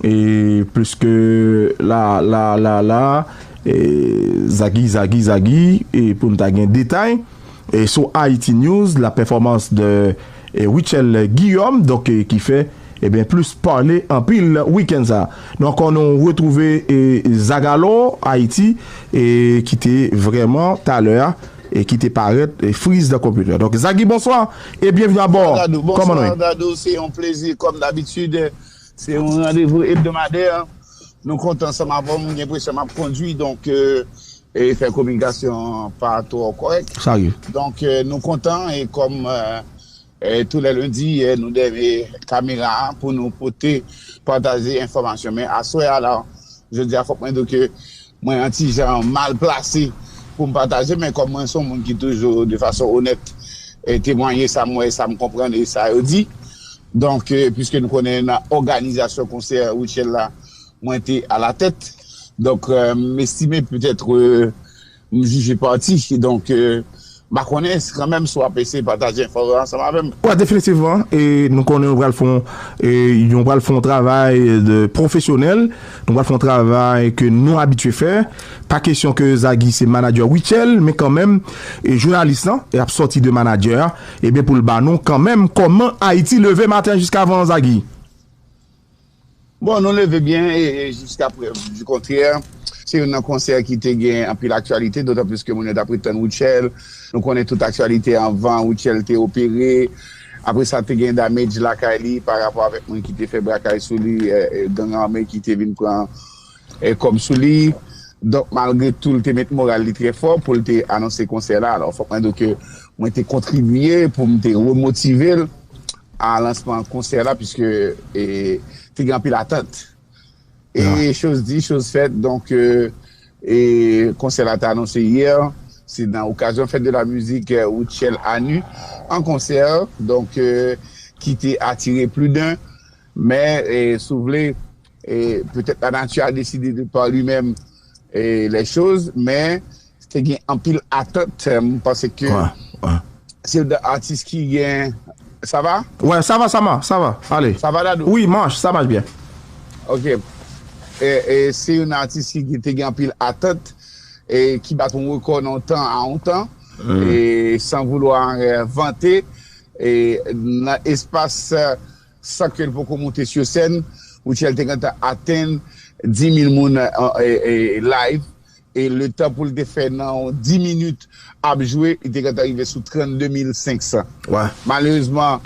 Pliske la la la la e zagi zagi zagi e pou n ta gen detay e sou Haïti News la pèfòmans de Rutshelle Guillaume donk ki fè ebyen plis pale anpil wikenn sa a. Nou ankò nou retwouve e zagalo Haïti e ki te vrèman talè a e ki te parèt friz dan konpitè. Donk Zagi bonswa e byenvni abò! Kòman nou ye? Bonswa Dadou, se yon plezi kòm dabitid. Se yon randevou ebdomadè. Nou konte ansanm avè w. M gen enpresyon m ap kondui, donk e fè kominikasyon an pa twò kòrèk. Sa rive. Donk nou kontan e kòm tou lè lendi nou dèyè kamera a pou nou pote, pataje enfòmasyon. Men aswè a la, jodi a fòk mwen di w ke. Mwen an ti jan mal plase pou m pataje men kòm mwen son moun ki toujou de fason onèt temwanye sa m wè, sa m konprann e sa yo di. Donk puiske nou konnen nan òganizasyon konsè Rutshelle la mwen te alatèt, donk m estime petèt m jije pati donk. M pa konnen kanmenm si w ap eseye pataje enfo yo ansanm avè m. Wa definitivman e nou konnen yo pral fon e yon pral fon travay de pwofesyonèl nou pral fon travay ke nou abitye fè pa kesyon ke Zaghi se manadjè Rutshelle men kanmenm e jounalis lan e ap sòti de manadjè a e ben pou l ba nou kanmenm kòman Ayiti leve maten jiskavan Zaghi. Bon nou leve byen e jiska prèv di kontrè se youn nan konsè ki te gen anpil aktyalite dotan plis ke moun yo t ap ret tann Rutshelle. Nou konnen tout aktyalite anvan Rutshelle te opere. Apre sa te gen damage lakay li pa rapò avèk moun ki te fè brakay sou li, gang ame ki te vin pran. E kòm sou li, donk malgre tou li te met moral li trè fò pou l te anonse konsè la, alò fòk mwen di w ke mwen te kontribye pou m te remotive l a lansman konsè la piske te gen anpil atant. E choz di, choz fèt, donk konsè la te anonse yè, se nan okazyon Fête de la Musique Rutshelle Anu en concert, donk ki te atire pli d'un, men si w vle, E petèt la nati a deside de par li menm les choses men te gen anpil atant m panse ke se yon nan atis ki gen sa va? Wè sa va sa ma sa va ale sa va Dadou? Wi mach sa mach byen. Ok e se yon nan atis ki te gen anpil atant e ki bat yon rekò nan yon tan a yon tan e san voulwa vante e nan espas San ke l poko moute su sèn, Rutshelle te gentan atenn 10.000 moun live e le tan pou l te fè nan yon 10 minit ap jwe, li te gentan rive sou 32.500. Malerezman,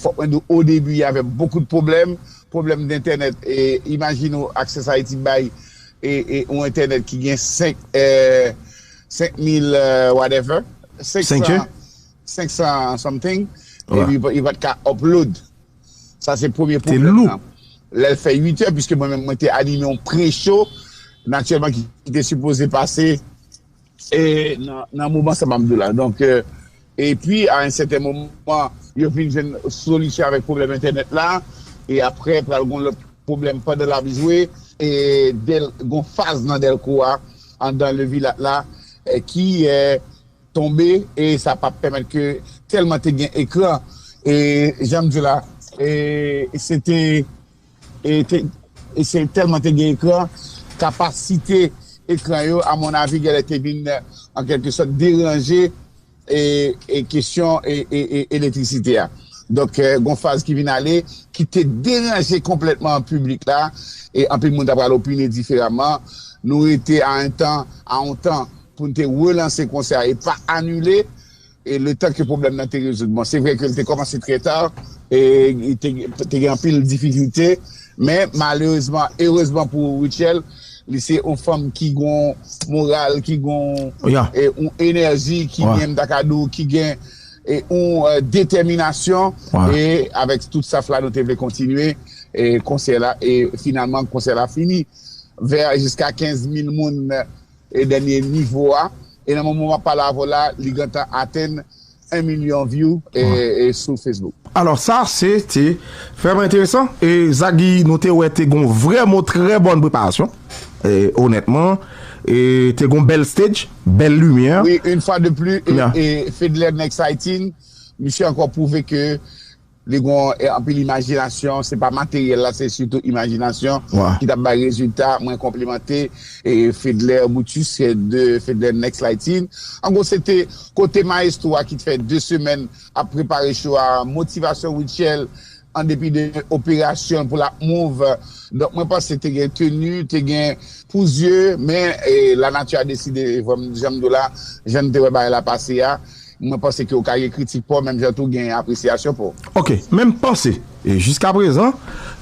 fòk mwen di w o debi y avè bokou de pwoblèm, pwoblèm dentènèt, imajine w Access Haiti bay yon entènèt ki gen 5 mil whatever, 500. 500 something epi li pat ka upload sa se premye pwoblèm nan lèl fè 8 è pwiske mwen menm mwen te anime yon pre show natirèlman ki te sipoze pase e nan moman sa map diw la donk epi a yon sèten moman yo vin jwenn solisyon avèk pwoblèm entènèt la e aprè pral gon lòt pwoblèm pandan lap jwe e gon faz nan dèlko a andan levilat la ki tonbe e sa pa pèmèt ke tèlman te gen ekran e jan m di w la e se te e te e se tèlman te gen ekran kapasite ekran yo a mon avi gèlè te vin an kèlke sòt deranje e e kesyon e e elektrisite a donk gon faz ki vin ale ki te deranje konplètman piblik la e anpil moun ta pral opine diferaman nou rete a en tan a on tan pou n te relanse konsè a e pa anile e letan ke pwoblèm nan te rezoud. Bon, se vre ke li te kòmanse trè ta e te gen anpil difikilte men malerezman, erezman pou Rutshelle, li se yon fanm ki gen yon moral, ki gen yon enèji, ki gen, m ta ka di w, ki gen yon detèminasyon e avèk tout staff la nou te vle kontinye konsè la e finalman konsè la fini vè jiska 15 mil moun. e dènye nivo a e nan moman map pale avèw la li gentan atenn 1 milyon view sou Facebook. Alò sa se te vrèman enteresan e sa Guy nou te wè te gon vrè mou trè bòn preparasyon e onètman e te gon bèl stage bèl limyè. Wi une fois de plus e Fedler nèg Saïtin misye ankò pwouve ke. Li gon anpil imajinasyon, se pa materyèl la se sitou imajinasyon ki tap bay rezilta, mwen konplimante Fedler Brutus de Fedler Next Lighting. An gwo se te kote maestro a ki t fè 2 semèn ap prepare show a, motivasyon Rutshelle an depi de operasyon pou lap move, donk mwen panse te gen tenu, te gen pou zye men la nati a deside janm diw la, jann te wè bagay la pase a. Mwen panse ke ou ka gen kritik pa w menm jan tou gen apresyasyon pa w. Ok, men m panse, jiska prezan,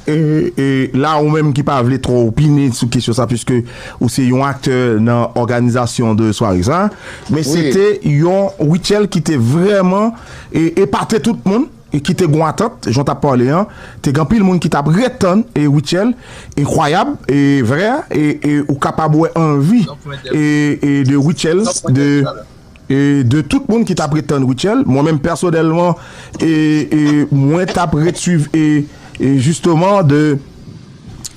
la ou menm ki pa vle twò opine sou kesyon sa puiske ou se yon aktè nan òganizasyon de sware sa, men se te yon rityèl ki te vrèman epate tout moun, ki te gen yon atant, jan w t ap pale an, te gen anpil moun ki t ap ret tann rityèl enkwayab e vrè a, e ou kapab wè anvi de rityèl de. E de tout moun ki tap ret tann Rutshelle, mwen menm pèsonèlman e mwen tap ret swiv e jisteman de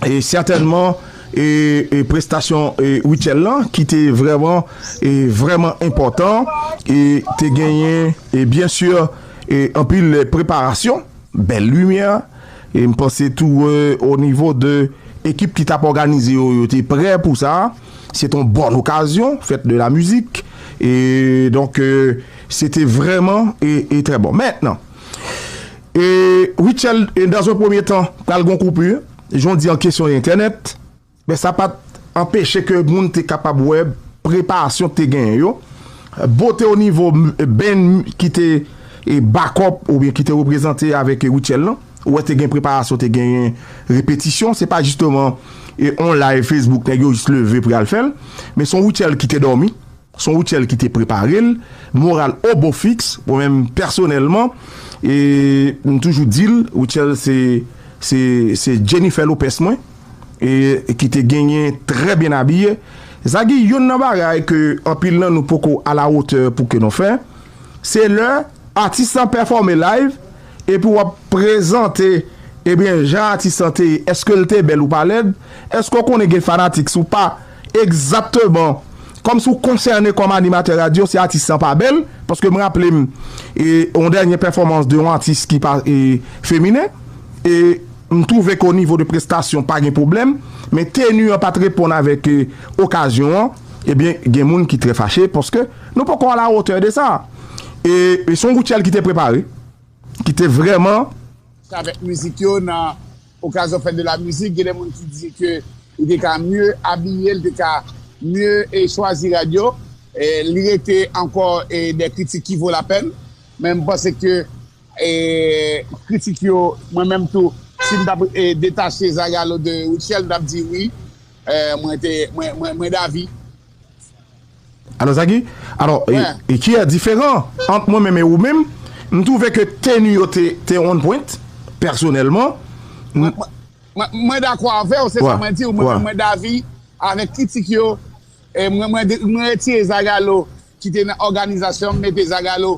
e sètènman e prestasyon e Rutshelle lan ki te vrèman e vrèman enpòtan e te genyen e byen si e anpil preparasyon, bèl limyè e m panse tou o nivo de ekip ki tap òganize yo, yo te prè pou sa. Se te yon bòn okazyon, fèt de la mizik. E donk, se te vrèman e trè bon. Mentnan, e Rutshelle, e dan zon premye tan, pral gon koupi, jan w di an kesyon entènèt, men sa pa t anpeche ke moun te kapab wè preparasyon k te genyen yo. Bote o nivo band ki te e bakòp oubyen ki te reprezante avèk Rutshelle lan. Ou wè te gen preparasyon te genyen repetisyon se pa jisteman e on live Facebook nèg yo jis leve pou yal fèl men son Rutshelle ki te dòmi son Rutshelle ki te preparel moral o bon fiks mwen menm pèsonèlman e m toujou dil Rutshelle se se se Jennifer Lopez mwen e ki te genyen trè byen abiye sa ki youn nan bagay ke anpil nan nou poko a la hauteur pou ke nou fè se lè atis lan pèfòme live Epi wap prezante Ebyen jan atis lan te ye eske l te bèl ou pa lèd Eske w konnen gen fanatik si w pa egzakteman kòm si w konsène kòm animatè radyo si atis lan pa bèl paske m raple m e yon dènye pèfòmans de yon atis ki pa e feminen e m twouve ke o nivo de prestasyon pa gen pwoblèm men teni an pat reponn avèk okazyon an ebyen gen moun ki trè fache paske. Nou poko a la hauteur de sa. E se yon group tchèl ki te prepare, ki te vrèman. Travè mizik yo nan okazyon fèt de la mizik. Gen de moun ki di ke li te ka mye abiye, li te ka mye chwazi rad yo. Li rete ankò de kritik ki vo la pèn. Men m panse ke kritik yo, mwen menm tou, si m t ap detache Zagalo de Rutshelle, m t ap di wi, mwen davi. Alò Zagi, alò e ki a diferan ant mwen menm e ou menm? M twouve ke teni yo te on pwent, pèsonèlman. Mwen dakò avè w, se sa mwen di w, mwen menm mwen davi avèk kritik yo. Mwen retire Zagalo ki te nan òganizasyon m, m mete Zagalo.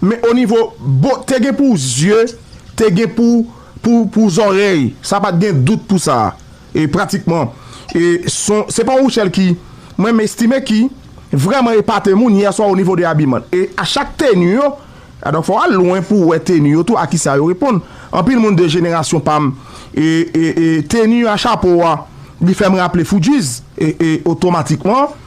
Men onivo bo te gen pou zye, te gen pou pou zòrèy, sa pa t gen dout pou sa. E pratikman e son se pa yon Rutshelle ki mwen m estime ki vrèman epate moun yè swa onivo de abiman. E a chak teni yo, donk fò w al lwen pou w wè teni yo tou a ki sa yo reponn. Anpil moun de jenerasyon pa m e e e teni a chapo a li fè m raple Fugees e e otomatikman.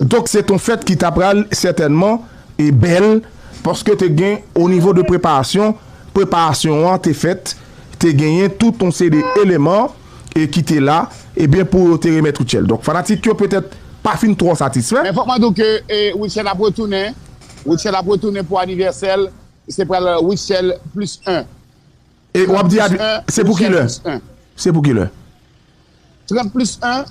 Donk se t on fèt ki ta pral sètènman bèl paske te gen o nivo de preparasyon, preparasyon an te fèt, te genyen tout on seri de eleman ki te la ebyen pou yo te remèt Rutshelle. Donk fanatik yo petèt pa fin twò satisfè. Men fòk mwen di w ke Rutshelle ap retounen, Rutshelle ap retounen pou anivèsè l, se pral Rutshelle plis 1. E w ap di se pou kilè? Se pou kilè? 30 plis 1.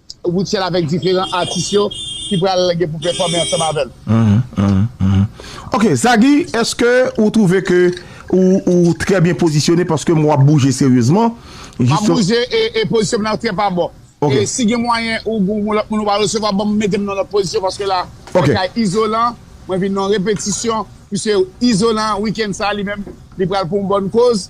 Rutshelle avèk diferan atis yo ki pral gen pou pèfòme ansanm avè l. Ok Zaggy eske ou trouve ke ou trè byen pozisyone paske m wè w ap bouje seryezman Map bouje e pozisyon m nan trè pa bon e si gen mwayen ou gen yon lòt moun ou pa resevwa banm mete m nan yon lòt pozisyon paske la se kay Izolan mwen vin nan yon repetisyon misye Izolan weekend sa li menm li pral pou yon bòn koz.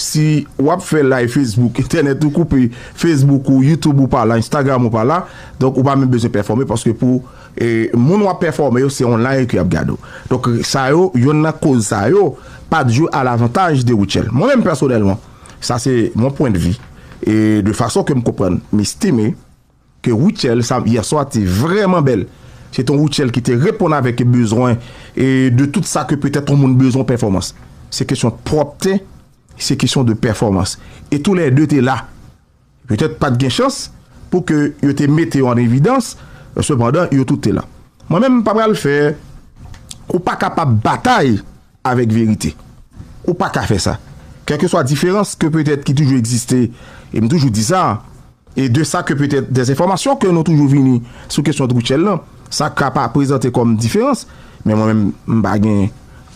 Si wap fè live Facebook, entènèt ou koupe, Facebook ou, YouTube ou pa la, Instagram ou pa la, donk ou pa menm bezwen pèfòme paske pou moun wap pèfòme yo se online ke yap gade ou. Donk sa yo, yonn nan koz sa yo pat jwe a lavantaj de Rutshelle. Mwen menm pèsonèlman, sa se mon point de vue e de fason ke m konprann, m estime. Ke Rutshelle sa yè swa te vrèman bèl. Se te yon Rutshelle ki te reponn avèk bezwen e de tout sa ke petèt yon moun bezwen pèfòmans. Se kesyon pwòpte, se kesyon de pèfòmans. E tou lè de te la. Petèt pat gen chans pou ke yo te mete yo an evidans, sepandan yo tout te la. Mwen menm m pa pral fè, ou pa kapab batay. avèk verite. Ou pa ka fè sa. Kèlkeswa diferans ke petèt ki toujou egziste, e m toujou di sa, e de sa ke petèt dezenfòmasyon ke nou toujou vini sou kesyon Rutshelle lan, sa ka pa prezante kòm diferans, men mwen menm m pa gen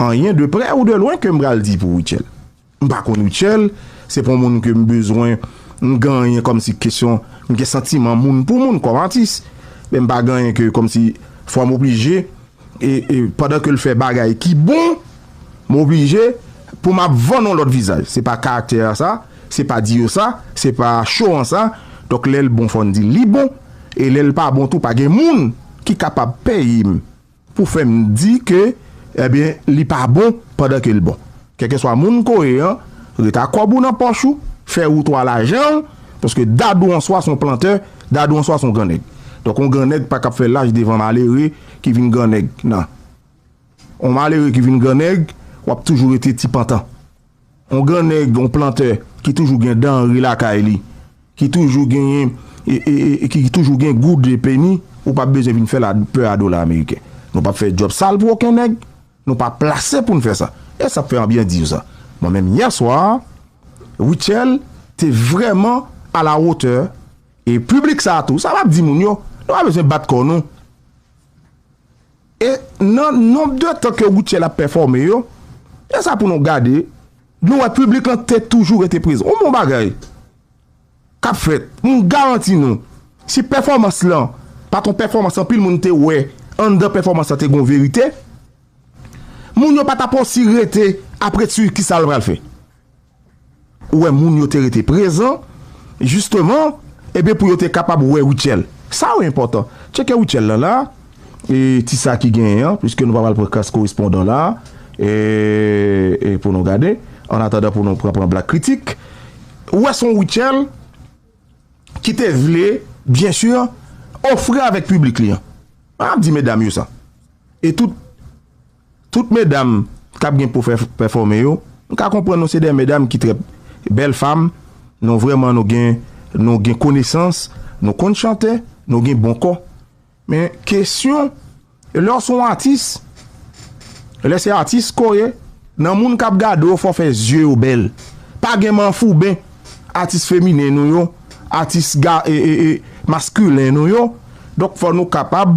anyen de prè ou de lwen ke m pral di pou Rutshelle. M pa konn Rutshelle, se pa yon moun ke m bezwen m gen anyen kòmsi kesyon m gen santiman moun pou moun kòm atis, men m pa gen anyen ke kòmsi fò m oblije e pandan ke l fè bagay ki bon m oblije pou m ap vann yon lòt vizaj, se pa karaktè a sa, se pa di yo sa, se pa show an sa, donk lè l bon fò n di li bon e lè l pa bon tou pa gen moun ki kapab peye m. Pou fè m di ke ebyen li pa bon pandan ke l bon. Kèlkeswa moun ke w ye an, reta kòb ou nan pòch ou, fè wout ou a lajan w, paske dadou an swa se yon plantè, dadou an swa se yon gran nèg. Donk yon gran nèg pa kab fè laj devan malere ki vin gran nèg nan. Yon malere ki vin gran nèg, w ap toujou rete ti pantan. On gran nèg, on plantè ki toujou gen danre lakay li, ki toujou genyen, ki toujou gen goud e peni, ou pa bezwen vin fè la pè a dola ameriken. Nou pap fè djòb sal pou oken nèg, nou pa plase pou n fè sa. E sa fè anbyen di yo sa. Mwen menm yè swa, Rutshelle te vrèman a la wotè e piblik sa tou. Sa map di moun yo, nou pa bezwen bat kò nou. E nan nonb de tan ke Rutshelle ap pèfòme yo, e sa pou nou gade, nou wè piblik lan te toujou rete prezan. Yon bon bagay k ap fèt, m garanti nou, si pèfòmans lan pa t yon pèfòmans anpil moun te wè anndan pèfòmans lan te gen yon verite, moun yo pa t ap osi rete ap ret sou kisa l pral fè. Ou wè moun yo te rete prezan jisteman ebyen pou yo te kapab wè Rutshelle. Sa yo enpòtan. Tcheke Rutshelle lan la e ti sa ki genyen an piske nou pa pral pran kas korespondan la e pou nou gade an atandan pou nou pran pran blak kritik. Ou wè se yon Rutshelle ki te vle byen si ofri avèk piblik li an. Mwen ap di medam yo sa. E tout. Tout medam kap gen pou fè pèfòme yo m ka konprann nou se de medam ki trè bèl fam nou vrèman nou gen nou gen konesans nou konn chante nou gen bon kò men kesyon lè w se yon atis lè se atis ke w ye nan moun kap gade w fò w fè zye yo bèl pa gen manfouben atis feminen nou yo atis ga e e e maskilen nou yo donk fò nou kapab.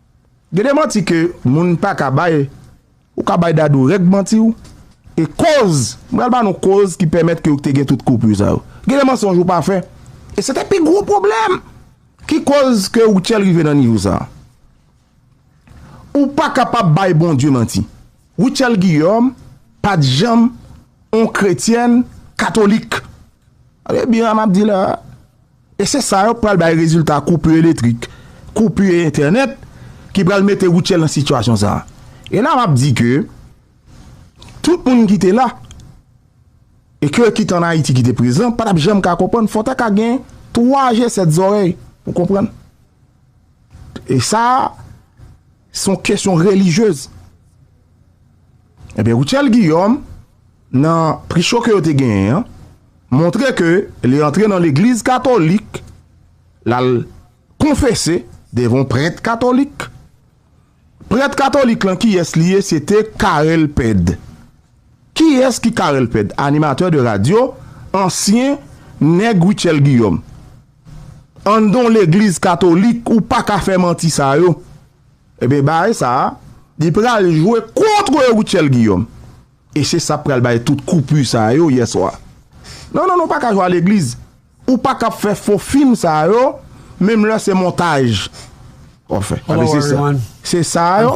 Gen de manti ke moun pa ka bay, ou ka bay Dadou règ manti w, e koz, m pral ba nou koz ki pèmèt ke ou te gen tout koupur sa yo. Gen de mansonj ou pa fè, e se te pi gwo pwoblèm ki koz ke Rutshelle rive nan nivo sa. Ou pa kapab bay Bondye manti. Rutshelle Guillaume pa t janm yon kretyèn katolik. Tande byen sa m ap di la a. E se sa yo k pral bay rezilta koupur eletrik, koupur entènèt ki pral mete Rutshelle nan sitiyasyon sa a. E la m ap di ke tout moun ki te la e ke ki t an Ayiti ki te prezan pa t ap janm ka konprann, fò w ta ka gen 3 je 7 zòrèy pou w konprann. E sa a se yon kesyon relijyez. Ebyen Rutshelle Guillaume nan pri show ke yo te genyen an montre ke li antre nan legliz katolik lal konfese devan yon prèt katolik. Prèt katolik lan kiyès li ye se te Carel Ped. Kiyès ki Carel Ped? Animatè de radyo, ansyen nèg Rutshelle Guillaume. Anndan yon legliz katolik ou paka fè manti sa yo. Ebyen baay sa li pral jwe kontre Rutshelle Guillaume e se sa pral bay tout kou pu sa yo yè swa. Non non nou paka jwe a legliz ou paka ap fè fo fim sa yo menm lè se montaj wap fè paske se sa se sa yo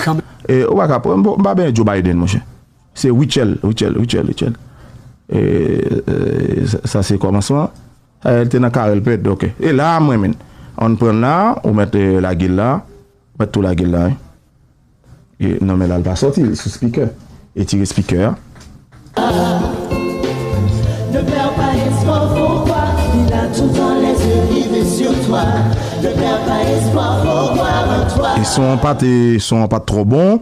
e ou paka m pa benyen Joe Biden monchè se Rutshelle Rutshelle Rutshelle Rutshelle e sa se kòmansman. L te nan kare l pèd ok. E la a m renmin an pran l la a ou mèt lage l la a ou mèt tou lage l la a wi. Non men la l pa sòti l sou spikè. Etire spikè a. E son an pat son an pat twò bon.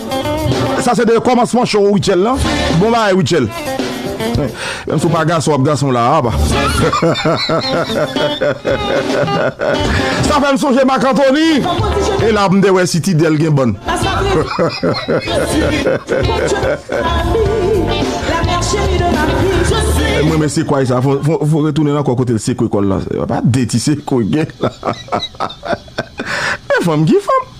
Sa se de komansman show Rutshelle lan. Bon bagay Rutshelle. Menm si w pa gason w ap gason la aba. Sa fè m sonje Marc Anthony. E la m te wè si Tidèle gen bann. M renmen sekwa sa. Fon retounen ankò kote l sekwe kò l la. Pa de ti sekwe gen la. Men fanm ki fanm.